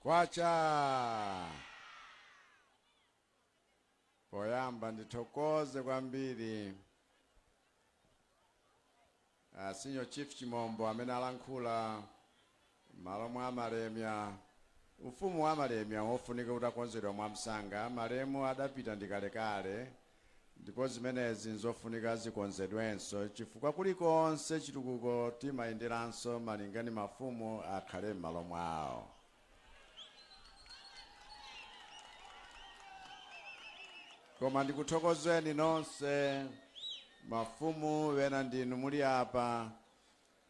kwacha poyamba ndithokoze kwambiri uh, senior chief chimombo amene alankhula M'malo mwa Malemia, ufumu wa Malemia wofunika utakonzedwa mwamsanga, malemu adapita ndi kalekale, ndipo zimenezi n'zofunika zikonzedwenso chifukwa kulikonse chitukuko timayenderanso malinga ndi mafumu akhale m'malo mwawo. Koma ndikuthokozeni nonse, mafumu ena ndinu muli apa,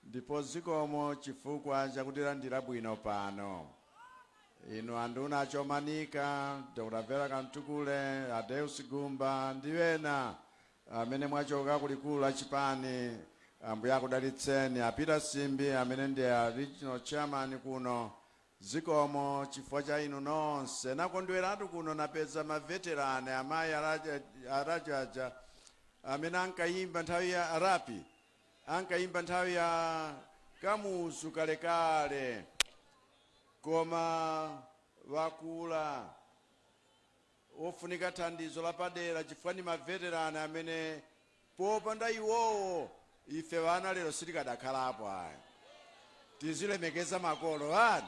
Ndipo zikomo chifukwa chakutilandira bwino pano. Inu anduna a Chomanika, Dr Vera Kamtukule, a Deus Gumba ndi ena amene mwachoka ku likulu la chipani, Ambuye akudalitseni. A Peter Simbi amene ndi a Regional Chairman kuno, zikomo chifukwa cha inu nonse. Nakondweratu kuno napeza ma veteran, amayi a Rajaja amene ankayimba nthawi ya Rapi. ankayimba nthawi ya kamuzu kalekale koma bakula ofunika thandizo lapadera chifukwa ndi ma veteran amene popanda iwowo ife ana lero sitikadakhalapo ayi tizilemekeza makolo ani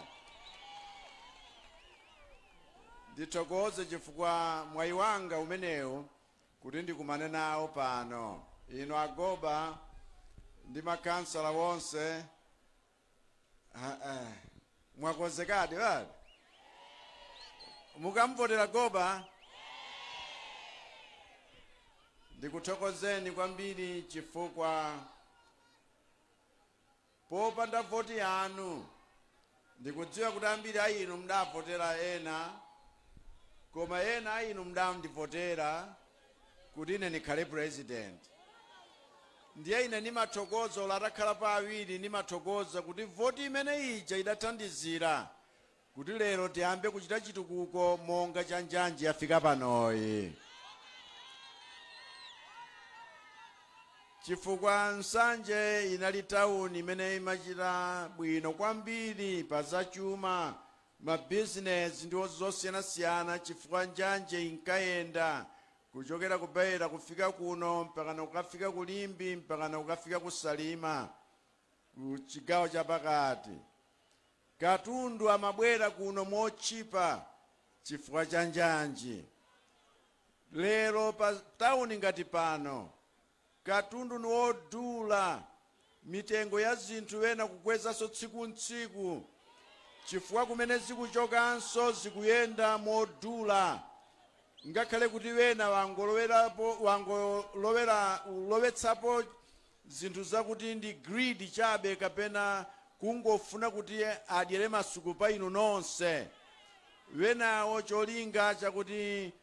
ndithokoze chifukwa mwayi wanga umenewu kuti ndikumane nawo pano, inu a Goba ndi ma councillor onse ha, eh, mwakonzekadi wadi mukamvotera Goba ndikuthokozeni kwambiri chifukwa Popanda voti yanu, ndikudziwa kuti ambiri a inu mdavotera ena, koma ena a inu mdandivotera kuti ine ndikhale purezidenti. Ndiye ine ndimathokoza, olo atakhalapo awiri, ndimathokoza kuti voti imene ija idathandizira kuti lero tiyambe kuchita chitukuko monga cha njanji yafika panoyi chifukwa nsanje inali tawuni imene imachita bwino kwambiri pa zachuma mabizinesi ndi zosiyanasiyana chifukwa njanji inkayenda kuchokera ku beira kufika kuno mpakana kukafika ku limbe mpakana kukafika ku salima ku chigawo chapakati Katundu amabwera kuno motchipa chifukwa cha njanji. Lero pa town ngati pano katundu ni wodula, mitengo ya zinthu ena kukwezanso tsiku n'tsiku chifukwa kumene zikuchokanso zikuyenda modula ngakhale kuti ena angolowerapo angolowera lowetsapo zinthu zakuti ndi greed chabe kapena kungofuna kuti adyere masuku pa inu nonse wenawo cholinga chakuti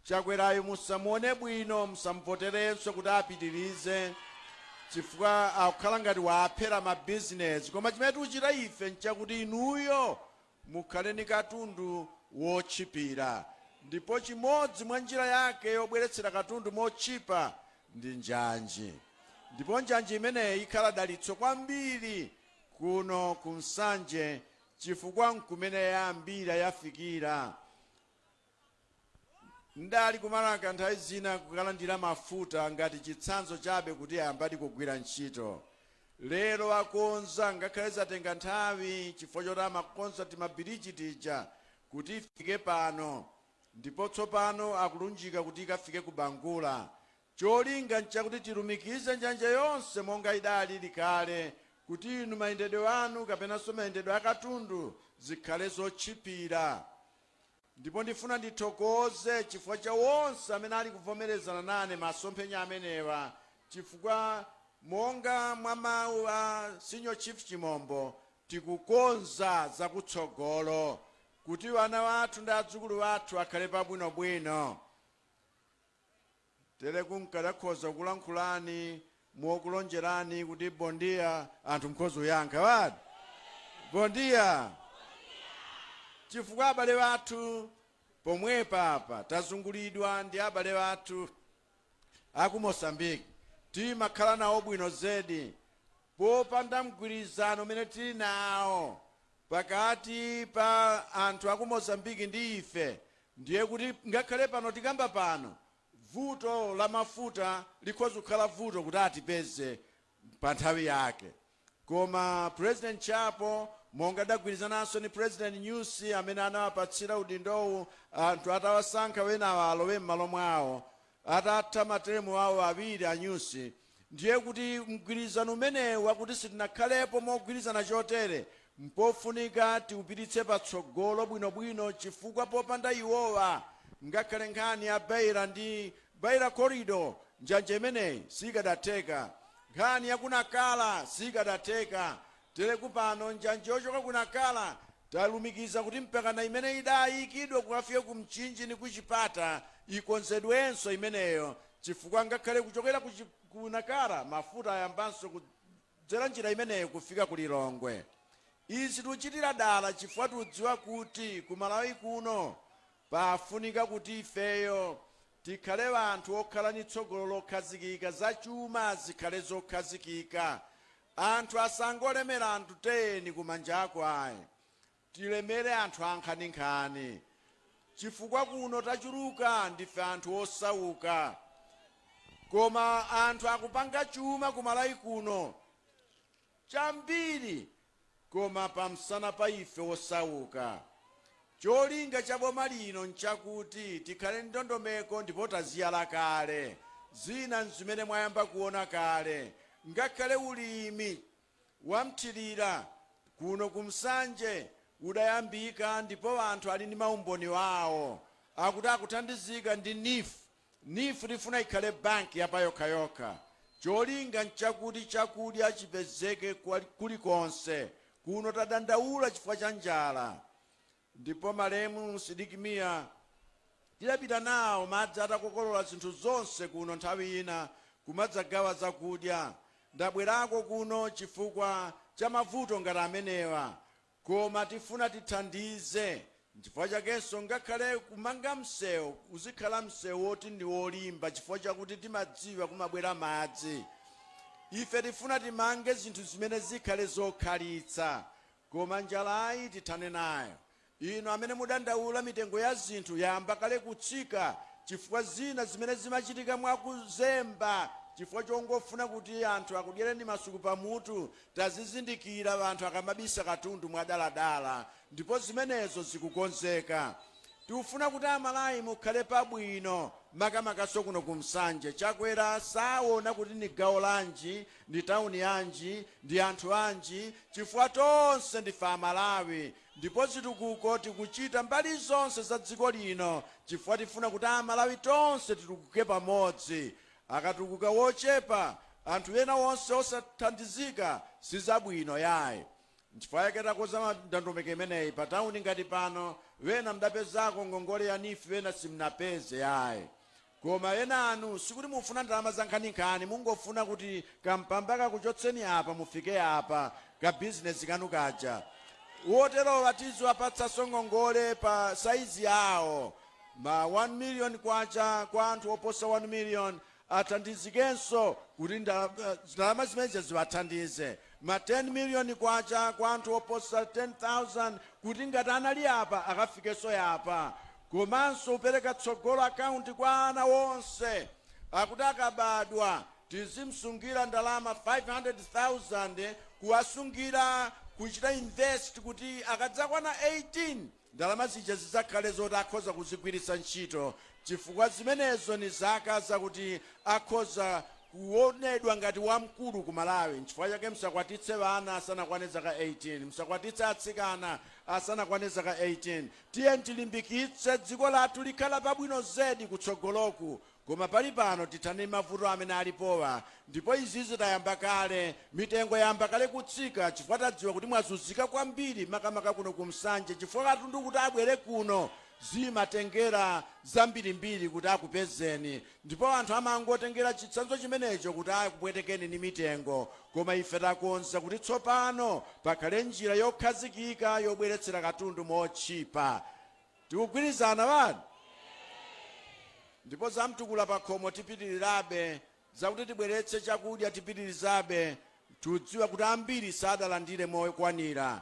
Chakwerayu musamuone bwino musamuvoterenso kuti apitirize chifukwa akukhala ngati waaphera ma business koma chimene tikuchita ife nchakuti inuyo Mukhale ndi katundu wotchipira. Ndipo chimodzi mwa njira yake yobweretsera katundu motchipa ndi njanji. Ndipo njanji imeneyi ikhala dalitso kwambiri kuno ku Nsanje chifukwa n'kumene yayambira yafikira Ndali ku Marka nthawi zina kukalandira mafuta ngati chitsanzo chabe kuti ayambadi kugwira ntchito. Lero akonza ngakhale zatenga nthawi chifukwa choti amakonza timabiriji tija kuti ifike pano ndipo tsopano akulunjika kuti ikafike ku Bangula. Cholinga n'chakuti tilumikize njanji yonse monga idalili kale kuti inu mayendedwe anu kapenanso mayendedwe a katundu zikhale zotchipira. Ndipo ndifuna ndithokoze chifukwa cha onse amene ali kuvomerezana nane masomphenya amenewa chifukwa monga mwa mau a Senior Chief Chimombo tikukonza za kutsogolo kuti ana athu ndi adzukulu athu akhale pabwinobwino. Tereku nkadakhoza kulankhula ni mokulonjerani kuti bom dia anthu mkhoza kuyankha bwanji bom dia chifukwa abale athu pomwepa apa tazungulidwa ndi abale athu aku moçambique timakhala nawo bwino zedi Popanda mgwirizano umene tili nawo pakati pa anthu aku Mozambique ndi ife ndiye kuti ngakhale pano tikamba pano vuto la mafuta likhoza kukhala vuto kuti atipeze pa nthawi yake koma president Chapo monga adagwirizananso ndi president Nyusi amene anawapatsira udindowu anthu atawasankha wenawa alowe mmalo mwawo Atatha materemu awo awiri a Nyusi, ndiye kuti mgwirizano umenewu wakuti sitinakhalepo mogwirizana chotere mpofunika tiupititse patsogolo bwinobwino chifukwa popanda iwowa ngakhale nkhani ya Beira ndi Beira Corridor njanji imeneyi sikadatheka, nkhani ya ku Nacala sikadatheka, Teleku pano njanji yochoka ku Nacala talumikiza kuti mpakana imene idaayikidwa kukafika ku Mchinji ndi ku Chipata ikonzedwenso imeneyo chifukwa ngakhale kuchokera ku ku Nacala mafuta ayambanso kudzera njira imeneyo kufika ku Lilongwe. Izi tuchitira dala chifukwa tudziwa kuti ku Malawi kuno pafunika kuti ifeyo tikhale anthu okhala ndi tsogolo lokhazikika, zachuma zikhale zokhazikika, Anthu asangolemera anthu 10 kumanjaku ayi, tilemere anthu ankhaninkhani chifukwa kuno tachuluka ndife anthu osauka koma anthu akupanga chuma ku Malawi kuno chambiri. koma pamsana pa ife osauka. Cholinga cha boma lino nchakuti tikhale ndi ndondomeko ndipo taziyala kale, zina nzimene mwayamba kuona kale, ngakhale ulimi wamthirira kuno ku Nsanje udayambika ndipo anthu ali ndi maumboni awo akuti akuthandizika ndi neef Neef tifuna ikhale banki ya payokhayokha. Cholinga nchakuti chakudya chipezeke kulikonse. Kuno tadandaula chifukwa cha njala ndipo malemu Sidik Mia tidapita nawo madzi atakokolola zinthu zonse kuno nthawi ina kumadzagawa zakudya. Ndabwerako kuno chifukwa cha mavuto ngati amenewa Koma tifuna tithandize nchifukwa chakenso ngakhale kumanga mseu uzikhala mseu woti ndi wolimba chifukwa chakuti timadziwa kumabwera madzi. Ife tifuna timange zinthu zimene zikhale zokhalitsa koma njalayi tithane nayo. Inu amene mudandaula mitengo ya zinthu yayamba kale kutsika chifukwa zina zimene zimachitika mwakuzemba chifukwa chongofuna kuti anthu akudyereni masuku pamutu Tazizindikira anthu akamabisa katundu mwadaladala ndipo zimenezo zikukonzeka. Tikufuna kuti amalawi mukhale pabwino makamakanso kuno ku Nsanje. Chakwera saona kuti ndi gawo lanji, ndi town yanji, ndi anthu anji chifukwa tonse ndife amalawi ndipo zitukuko tikuchita mbali zonse za dziko lino chifukwa tifuna kuti amalawi tonse titukuke pamodzi. Akatukuka wochepa anthu ena onse osathandizika sizabwino yayi. Nchifukwa chake takonza ndondomeko imeneyi pa town ngati pano wena mdapezako ngongole ya neef wena simnapeze yayi. Koma enanu sikuti mufuna ndalama zankhaninkhani mungofuna kuti kampamba kakuchotseni apa mufike apa ka business kanu kaja. Woterowa tiziwapatsanso ngongole pa size yawo Ma K1 million kwa anthu oposa 1 million athandizikenso kuti ndalama zimenezi ziwathandize. Ma K10 million kwa anthu oposa 10,000 kuti ngati anali yapa akafikenso yapa. Komanso kupereka Tsogolo account kwa ana onse akuti akabadwa tizimsungira ndalama 500,000 kuwasungira kuchita invest kuti akadzakwana 18, Ndalama zija zidzakhale zoti akhoza kuzigwiritsa ntchito chifukwa zimenezo ni zaka zakuti akhoza kuonedwa ngati wamkulu ku Malawi. Nchifukwa chake msakwatitse ana asanakwane zaka 18. Msakwatitse atsikana asanakwane zaka 18. Tiyeni tilimbikitse dziko lathu likhala pabwino zedi kutsogoloku. Koma pali pano tithane ndi mavuto amene alipowa ndipo izizi tayamba kale, mitengo yayamba kale kutsika chifukwa tadziwa kuti mwazunzika kwambiri makamaka kuno ku Nsanje chifukwa katundu kuti abwere kuno zimatengera zambirimbiri kuti akupezeni ndipo anthu amangotengera chitsanzo chimenecho kuti akupwetekeni ndi mitengo koma ife takonza kuti tsopano pakhale njira yokhazikika yobweretsera katundu motchipa. Tikugwirizana wanu? Eeeh! Ndipo za mtukula pakhomo tipitirirabe, zakuti tibweretse chakudya tipitirizabe, tikudziwa kuti ambiri sadalandire mokwanira,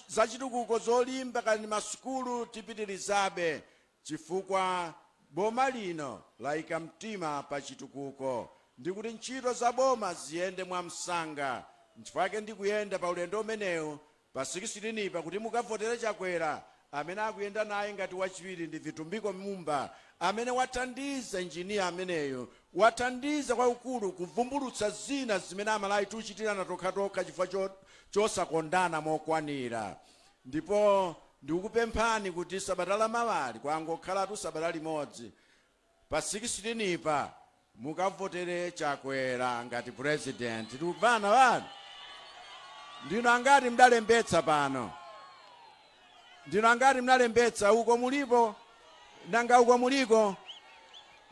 zachitukuko zolimba kaya ndi masukulu tipitirizabe chifukwa boma lino layika mtima pa chitukuko ndi kuti ntchito za boma ziyende mwamsanga, nchifukwa chake ndikuyenda pa ulendo umenewu Pa 16 pa kuti mukavotere Chakwera amene akuyenda naye ngati wachiwiri ndi Vitumbiko Mumba amene wathandiza engineer ameneyo wathandiza kwakukulu kuvumbulutsa zina zimene Amalawi tikuchitirana tokhatokha chifukwa chosakondana mokwanira ndipo ndikukupemphani kuti sabata lamawali kwangokhalatu sabata limodzi pa 16 pa mukavotere Chakwera ngati president tikumvana wanu ndinu angati mdalembetsa pano ndinu angati mdalembetsa uko mulipo nanga uko muliko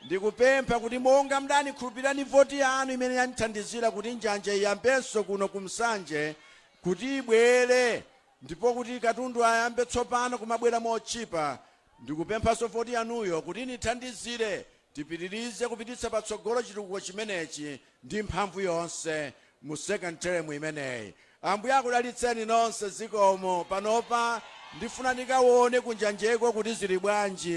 ndikupempha kuti monga mdandikhulupirira ndi voti yanu imene yanithandizira kuti njanja iyambenso kuno ku Nsanje kuti ibwere ndipo kuti katundu ayambe tsopano kumabwera motchipa Ndikupemphanso voti yanuyo kuti inithandizire tipitilize kupititsa patsogolo chitukuko chimenechi ndi mphamvu yonse mu second term imeneyi. Ambuye akudalitseni nonse zikomo panopa ndifuna ndikawone kunjanjeko kuti zili bwanji.